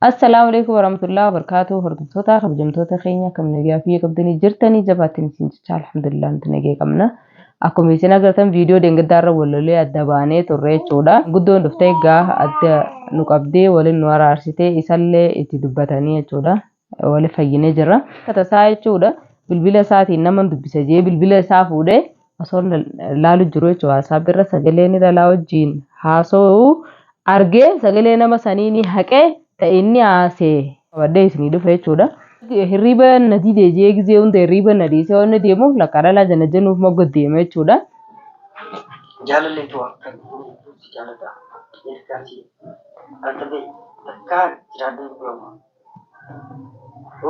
Assalaamu alaikum warahmatullahi wabarakatuh hordoftoota kabajamtoota keenya akkam nagaa fi qabdanii jirtanii jabaattiin isin jecha alhamdulillah nuti nagaa qabna akkuma isin agartan viidiyoo deengaddaa irra wallolee adda baanee turre jechuudha guddoon dhuftee gaafa adda nu qabdee waliin nu araarsitee isallee itti dubbatanii jechuudha wali fayyinee jirra tasaa jechuudha bilbila isaatiin nama dubbisa jee bilbila isaa fuudhee osoo laalu jiru jechuudha WhatsApp irra sagalee ni lalaa wajjiin haasa'u argee sagalee nama sanii ni haqee ta'e inni haasee qabadhee isinii dhufe jechuudha. Hirriiba na didee jee gizee hunda hirriiba na dhiisee waan inni deemuuf lakkaa dhalaa jana jenuuf mogga deema jechuudha. Jaalallee too akkan hunduu si jaalata ergaan si altabee takkaa jiraadhee beekuma.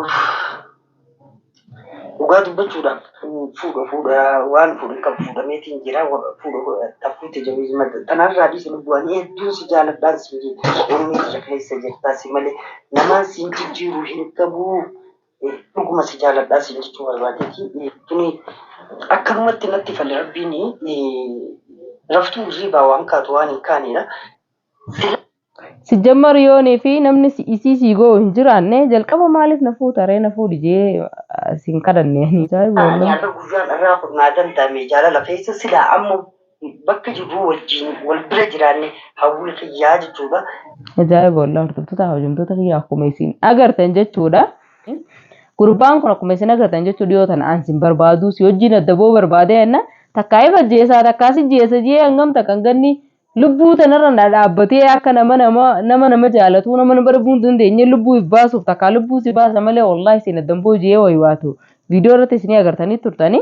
Uff. Dhugaa dubbachuudhaaf fuudha fuudha waan fuudhan qabu fuudhameetiin jira fuudha takkuu tajaajila madda tanarraa dhiisa lubbuu ani hedduun si jaaladhaan si onnee kiyya keessa jirtaa si malee namaan siin jijjiiru hin qabu dhuguma si jaaladhaa siin jechuu barbaadeeti tuni akkanumatti natti fale rabbiin raftuu hirriibaa waan kaatu waan hin kaanedha. Sijjammar yoonii fi namni si- isii sii goo hin jiraanne jalqaba maaliif na fuuta ree na fuudhi jee ah, siin kadhanne. Ajaa'iba Ani wallahi. har'a guyyaan irraa kun naa danda'ame jaalala keessa silaa amma bakka jirru wajjin wal bira jiraanne hawwii kiyyaa jechuudha. Ajaa'iba wallahi hordoftoota hawajamtoota kiyya akkuma isin agartan jechuudha. Gurbaan kun akkuma isin agartan jechuu dhiyoo tana aan sin barbaaduu si wajjin addaboo barbaadee enna takkaa if ajjeesaa takkaa si jeesa jee hangam takkan ganni Lubbuu tanarra na dhaabbatee akka nama nama nama nama jaalatuu nama nama dhabuu hin dandeenye lubbuu if baasuuf takkaa lubbuu si baasa malee wallahi isin addan booji'ee wayi waatu viidiyoo irratti isinii agartanii turtanii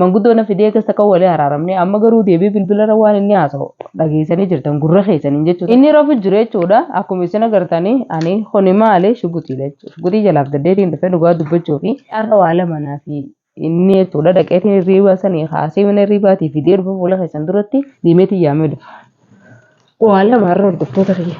manguddoo na fidee keessa kan walii araaramne amma garuu deebii bilbila irra waan inni haasa'u dhageessanii jirtan gurra keessaniin jechuudha inni rafu jiru jechuudha akkuma isin agartanii ani kuni maali shugutiidha jechuudha shugutii jalaaf gaddeetiin dhufee dhugaa dubbachuu fi har'a waa lama naa fi inni jechuudha dhaqeetiin hirriibaa sanii kaasee mana hirriibaatii fidee dhufa fuula keessan duratti deemeetiin yaamee dhufa. Waa lama har'a hordoftoota kiyya.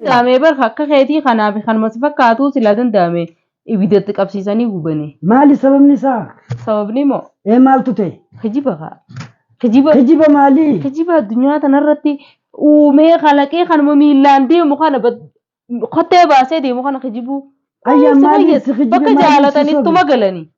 danda'ame bar akka keetii kanaa fi kanuma si fakkaatuu silaa danda'ame ibiddatti qabsiisanii gubanii. Maali sababni isaa? Sababni moo Ee maaltu ta'e? kijiba kaa. Kijiba Kijiba maalii? kijiba addunyaa tanarratti uumee kalaqee kanuma miillaan deemu kana bad- kottee baasee deemu kana kijibuu. Ayyaa Isa maaliif fayyada. si kijibe Bakka maaliif si jaalatan sobe? ittuma galanii.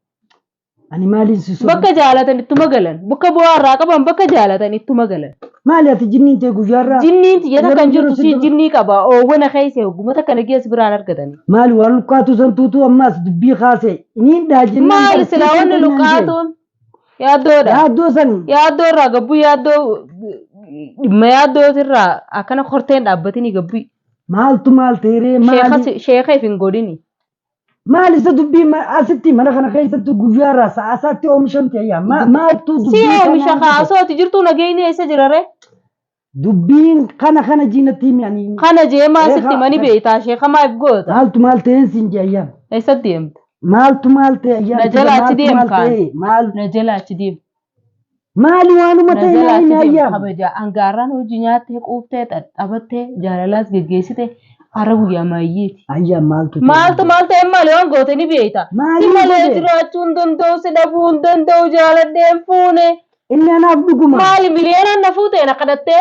Ani maaliin si sobu? Bakka jaalatan ittuma galan. Bakka bu'aa irraa qaban bakka jaalatan ittuma galan. Maali ati jinniin tee guyyaarraa? Jinniin tiyya takka hin jirtu sii jinnii qaba. Oowwana keessa hogguma takka nagiya si biraan argatani. Maali waan luqqaatuu san tuutuu ammaas dubbii kaasee iniin dhaa jennaan Maali barsiisuu silaa wanni kennaan jee. luqqaatuun? Yaaddoodha. Yaaddoo san Yaaddoo irraa gabbuu yaaddoo dhimma yaaddoo irraa akkana korteen dhaabbatini gabbuu. maaltu maal ta'eree maali? Sheekha if hin godhini. Maal isa dubbii ma- asitti mana kana keessatti guyyaarraa sa'a isaatti oomishamte ayyaa Ma- maaltu Si dubbii oomisha kana kaa osoo ati jirtuu nageenyi eessa jira ree? dubbiin kana kana jiinatti himi ani Kana jeemaa Eegaa, sitti mani eegaa. beektaa ishee kamaa if goota. maaltu maal ta'een siin jee ayyaa Eessatti deemta? maaltu maal ta'e ayyaa Na jala achi deem kaan. maal Na jala achi deem. Maali waanuma ta'e naa Najalaatti himi deemu ayyaam. kabajaa angaarraan hojii nyaattee quuftee xaxxabattee jaalalaas geggeessite har'a guyyaa maayyeeti. Ayyaam maaltu ta'e? Maaltu maal ta'e maali waan goote ni beekta. Si Maaliin malee godhe? jiraachuu hin danda'u si dhabuu hin danda'u jaaladhee hin fuune. Inni anaaf dhuguma. Maali miliyoonaan na fuuteen akka dhattee?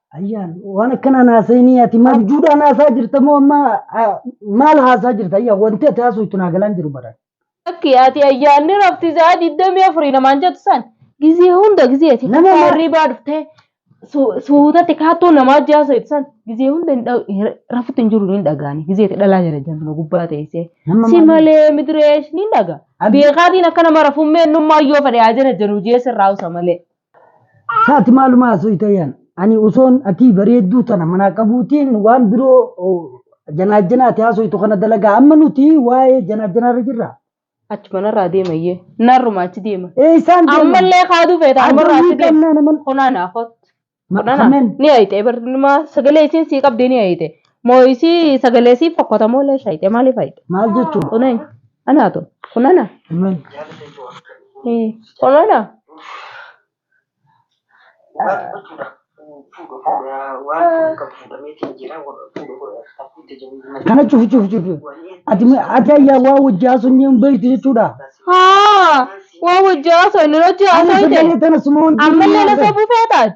Ayyaan waan akkanaan haasa'inii ati maal abjuudhaan haasaa jirta moo amma ah, maal haasaa jirta ayyaan wanti ati haasuu itti naa galaan jiru bara. Akki ati ayyaanni rafti sa'a digdamii afurii namaan jettu san gizee hunda gizee ati Nama maa- hirribaa dhuftee su- suutatti kaattoo namaa jaasa jettu san gizee hunda hin dha- hin- rafutti hin jiru hin dhagaani gizee ati dhalaa jala jantuma gubbaa teessee Nama si maal- malee midireesh ni dhaga Abdi- beekaatiin akka nama rafummee innummaa yoo fedhe haa jana janu jeessa irraa usa malee. Saati maaluma haasofta yaan. Ani osoon atii bareedduu tana manaa qabuutiin waan biroo oh, janaajjanaati haasoftu kana dalagaa. Amma nuti waa'ee janaajjanaarra jirra. Achi manarraa deemayyee. Narruma achi deema. Ee isaan deeman. Ammallee kaaduu feeta Aduu ammarraa ni achi deema. qabnaa naman. Kunaan haafot. Ma- Kunaan Kameen. ni hayxee barnuma sagalee isiin sii qabdee ni hayxee. Moo isii sagalee sii fokkota moo lee shayxee maaliif hayxee? Maal jechuun? Kuneen. Anaa tun. Kun ana. Eh, Kun ana. Kana cufu cufu cufu. Ati ma- ati ayyaa waa wajji haasofni hin beektu jechuudha. Haa. Waa wajji haasofne nuti Ani haasofne. sagalee tana suma wanti Ammallee na sobuu feetaati.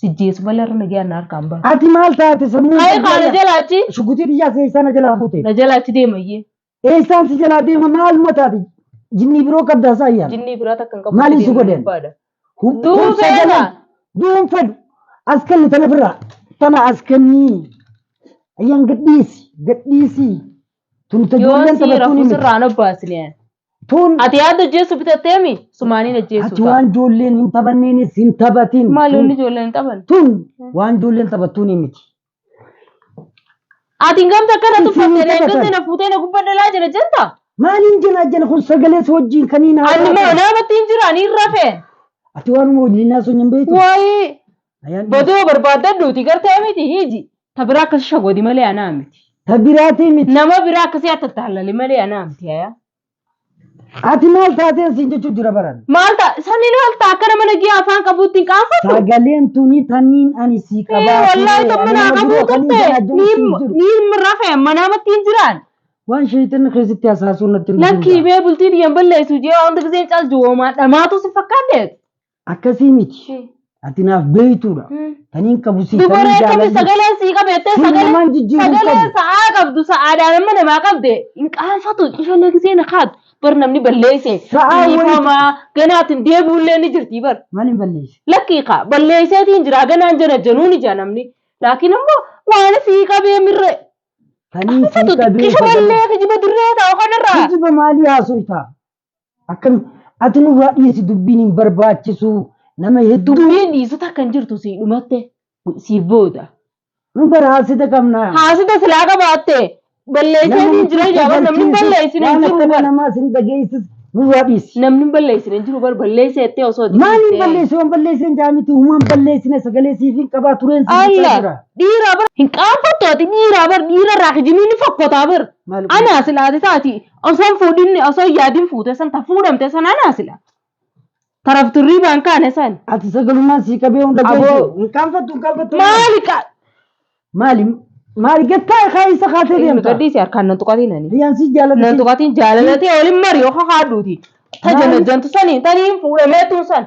Sijjeesu malee irra nagee anna harkaan ba'a. Ati maal taate sammuu Kaa'ee qabdii kaana ana? jala achi. Shugutii biyyaa seessaa na jalaa fuute. Na jala achi deemayyee. Eessaan si jalaa deema maaluma taate? Jinnii biroo qabdaa isaa ayyaana. Jinnii biraa takka hin qabu. Maaliif si deemuu godhan? barbaada. Hum- Du'uu hum feena. sagalee. Du'uun fedhu. As kenni tana birraa. Tana as kenni. Ayyaan gadhiisi. Gadhiisi. Tun ta Yoon ijoolleen si taphattuun rafuu hin sirraa hin obbaasi liyaan. Tun Ati yaada hojjeessu bitatteemi sumaaniin ati hojjeessu waan ijoolleen hin taphanneenis hin taphatin. Maal yoonni ijoolleen hin taphan? Tun waan ijoolleen taphattuun hin miti. Ati gamta akkana Isin tuffatte hin leencotti taphatan. na fuutee na gubbadha laa jira jetta? Maaliin jena jena kun sagalee si wajjin kaniin Ani moo haasa'aa. namatti hin jira ani hin rafeen. Ati waanuma wajjin haasa'u hin beektu. Waayii Ayaan Badoo barbaaddadhuuti gartee miti hiiji. Ta biraa akkasi shagoodi malee anaa miti. ta biraatii miti. Nama biraa akkasii attattaallali malee anaa miti ayaa. Ati maal taateen siin jechuu jira baran. Maal ta'a? Saniin maal ta'a? Akka nama nagiyaa afaan qabuutti hin qaanfatu. Sagaleen tuni taniin ani sii Ee, qabaa. Wallaahi kan manaa qabuu turte. Niin mirrafe manaa mattiin jiraan. Waan sheeyxanni keessatti hasaasuun natti hin Lakkii bee bultii dhiyyan balleessu jee waan hundiseen caaltu hoomaa dhamaatu si fakkaaddeet. Akkasii miti. Eh. Ati naaf beeytuudha. Hmm. Taniin qabu si Dubaree taniin qabdi jaaladhu. sagaleen sii qabeettee Siin sagalee namaan jijjiiruu hin sagalee qabu. sa'aa qabdu sa'aadhaan amma namaa qabde hin qaanfatu isheen gisee na kaatu bar namni balleesse Sa'aa walitti- dhiifamaa ganaatiin deebi'ullee ni jirti bar Maal hin balleessi? lakkii kaa balleesseetiin jira ganaan jana januu ni jaa namni laakiin ammoo waan sii qabee mirre Taniin si qabeessa. xiqqisha ballee kijiba dirree ta'u kanarraa Kijiba maalii haasoftaa? Akkam ati nurraa dhiisi dubbiin hin barbaachisu nama hedduu Dubbiin dhiisu takka hin jirtu sii dhumatte siif booda. nu bara haasida qabna. Haasida silaa qabaatte balleessee siin jira ija bar namni balleessine hin jiru bar. Namaa sin dhageessis nurraa dhiisi. Namni balleessine hin jiru bar balleessee jettee osoo itti Maaliin dhiistee. balleessu waan balleesseen jaamiti uumaan balleessine sagalee siif hin qabaa tureen siif hin Allah jira. dhiiraa bar hin qaanfattu ati dhiiraa bar dhiira irraa kijibni ni fokkotaa bar. Maal Anaa silaati taati Osoo hin fuudhinni osoo hin yaadin fuute san ta fuudhamte san anaa sila. Taraf turrii baan kaane san. Ati sagalumaan sii qabee hunda Aboo. geessu. Hin kaanfattu hin kaanfattu. Maali qa. Maali? Maali? Gattaa kaa isa kaatee Ilmi deemta. gadhiisi harkaan nan tuqatiin ani. Riyyaan sii jaalladhu. Nan tuqatiin jaalalati olin mari yoo kakaadhuuti. Ta Maali? janajjantu saniin taniin fuudhameetuun san.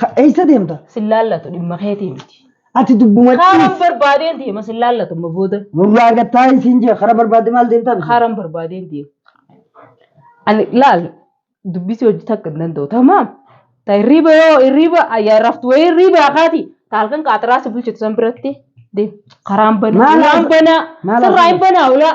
Ka- Eessa deemta? Sin laallatu dhimma keetii miti. Ati dubbuma Kaaran ciis. barbaadeen deema sin laallatu amma booda. Nurraa gattaa isiin jee karaa barbaadde maal deemtaa? bisi? Kaaran barbaadeen deema. Ani laal dubbisii hojii takka hin danda'u tamaam. Ta hirriiba yoo hirriiba ayyaa raftu wayii hirriiba akaati. Ta halkan qaataraa si bulchitu san biratti deema. Karaan banaa. Maal Waan haasa- banaa. maal Sirraa haasa- hin banaa ulaa.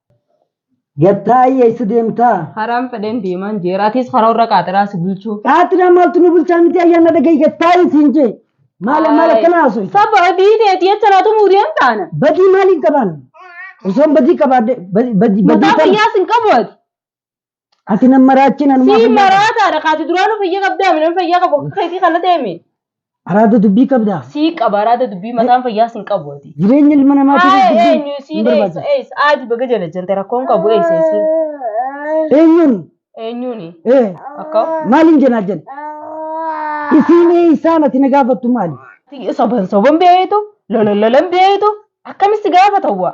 Gattaayye isa deemtaa? Haraan fedheen deemaan jeera. Atis karaa warra qaaxiraa si bulchuu. Qaatira maaltu nu bulchaa miti ayyaana dhagahi gattaayye siin jee. Maala maala kana haasoo. Saba badii teeti jecha naa tumuu deemtaana. Badii maaliin qabaan? Osoon badii qabaadhe badii badii Mataa fayyaas hin qabu ati. Ati nan maraachin anumaa Sii fayyaa qaba. maraataadha kaati duraanuu fayyaa qabdaa midhaan fayyaa qabu akka keetii kana deemi. Araada dubbii qabdaa. Sii qaba araada dubbii mataan fayyaa sin qabu ati. Jireenya ilma namaatiif Haaya dubbii eenyu hin siin eessa barbaachisu. eessa aadi baga jala jante rakkoon qabu eessa eessa Eenyuun? eenyuuni Eh, akka maaliin jenaa jenna? Isiin eessaan ati na gaafattu maali? soban soban beeyitu lolan lolan beeyitu akkamitti gaafata waa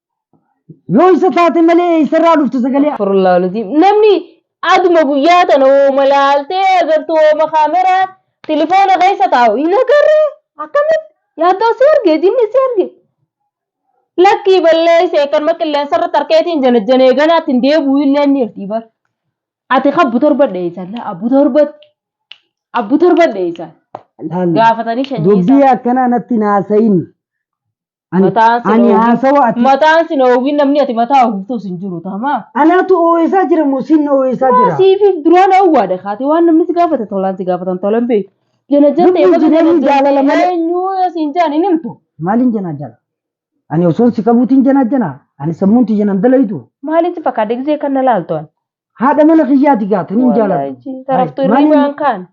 Yoo isa taate malee eessarraa dhufte sagalee Astaghfirullah al-Azim. Namni aduma guyyaa tana hooma laaltee agartu hooma kaameraa tilifoona keessa taa'u hin agarre akkamitti yaaddoo si arge jinni si arge. Lakkii balleesse kanuma qilleensa irratti harkeetiin janajjanee ganaatti hin deebi'u illee inni irtii bar. Ati kabbu torba dheessan abbu torbatti abbu torba dheessan laal. gaafatanii shanyii Dubbii isaa. akkanaa natti naasayin. Ani Mataan sin ani oowwin. haasawa ati Mataan sin oowwin namni ati mataa oowwiftuus hin jiru tamaa. anaatu oo'eessaa jira moo siin na oo'eessaa Waa jira? siifiif duraan oowwaadha kaati waan namni si gaafate tolaan si gaafatan tolan beektu. Jana jantee Dubbiin baga jana jireenyi jaalala jantee malee. eenyuu yoo siin jaan hin himtu. Maaliin janaa jana? Ani osoon si qabuutiin janaa jana? Ani sammuun tiyya nan dalayitu. Maaliin si fakkaate gisee kan na laaltu ani. Haadha mana kiyyaati gaatan hin jaalatu. Wallaahi taraftu Maaliin- hirribaan kaan.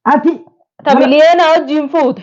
Ati Ta miliyoona wajjin fuute.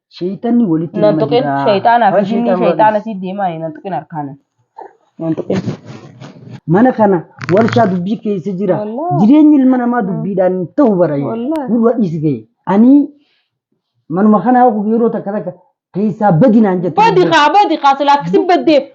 Sheeyxanni walitti Nan nama tuqin jira. shayxaanaa fi Waan jinnii sheeyxaan shayxaana walitti- si deemaa nan tuqin harkaanan. Nan tuqin. Mana kana warshaa dubbii keessa jira. Wallahi. Jireenyi ilma namaa dubbiidhaan hin ta'u bara. Wallahi. Gurra dhiisi ga'e. Ani manuma kanaa yeroo takka takka keessaa badinaan jettu. Badi kaa badi kaa silaa akkasi baddeef.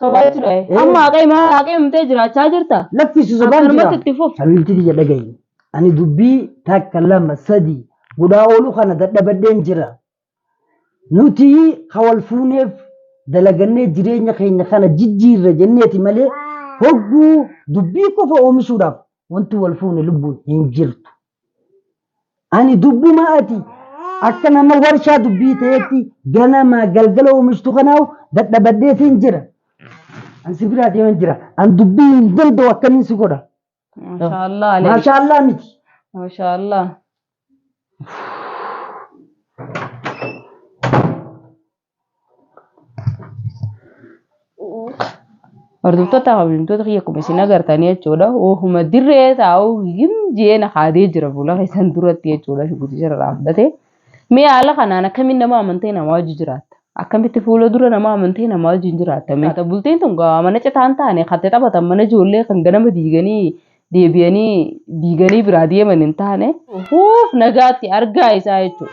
Sobaa jechuudha. Eh. Amma haqee maa haqee himtee jiraachaa jirta. Laffisi sobaan jira. Akkanumatti itti fufu. Habiibti biyya dhagayi. Ani dubbii takka lama sadii godhaa ooluu kana dadhabadheen jira. Nuti ha wal fuuneef dalagannee jireenya keenya kana jijjiirra jenneeti malee hogguu dubbii qofa oomishuudhaaf wanti wal fuune lubbuun hin jirtu. Ani dubbuma ati akka nama warshaa dubbii ta'etti ganamaa galgala oomishtu kanaaf dadhabadhee siin jira. An si biraa deeman jira. An dubbii hin danda'u akkamiin si godha. Maashaallah Alii. Maashaallah miti. Maashaallah. Hordoftoota kabajamtoota kiyya akkuma isin agartan jechuudha. Ofuma dirree taa'u hin jeen haadee jira fuula keessan duratti jechuudha. Shugguxii irraa fudhatee. Mee haala kanaan akkamiin nama amantee namaa wajji jiraatta? Akkamitti fuula dura nama amantee namaa wajji hin jiraatta? Mee bultiin tun gaa mana citaa hin taane kan itti taphatan mana ijoollee kan ganama diiganii deebi'anii diiganii biraa deeman hin taane. Fuuf nagaatti argaa isaa jechuudha.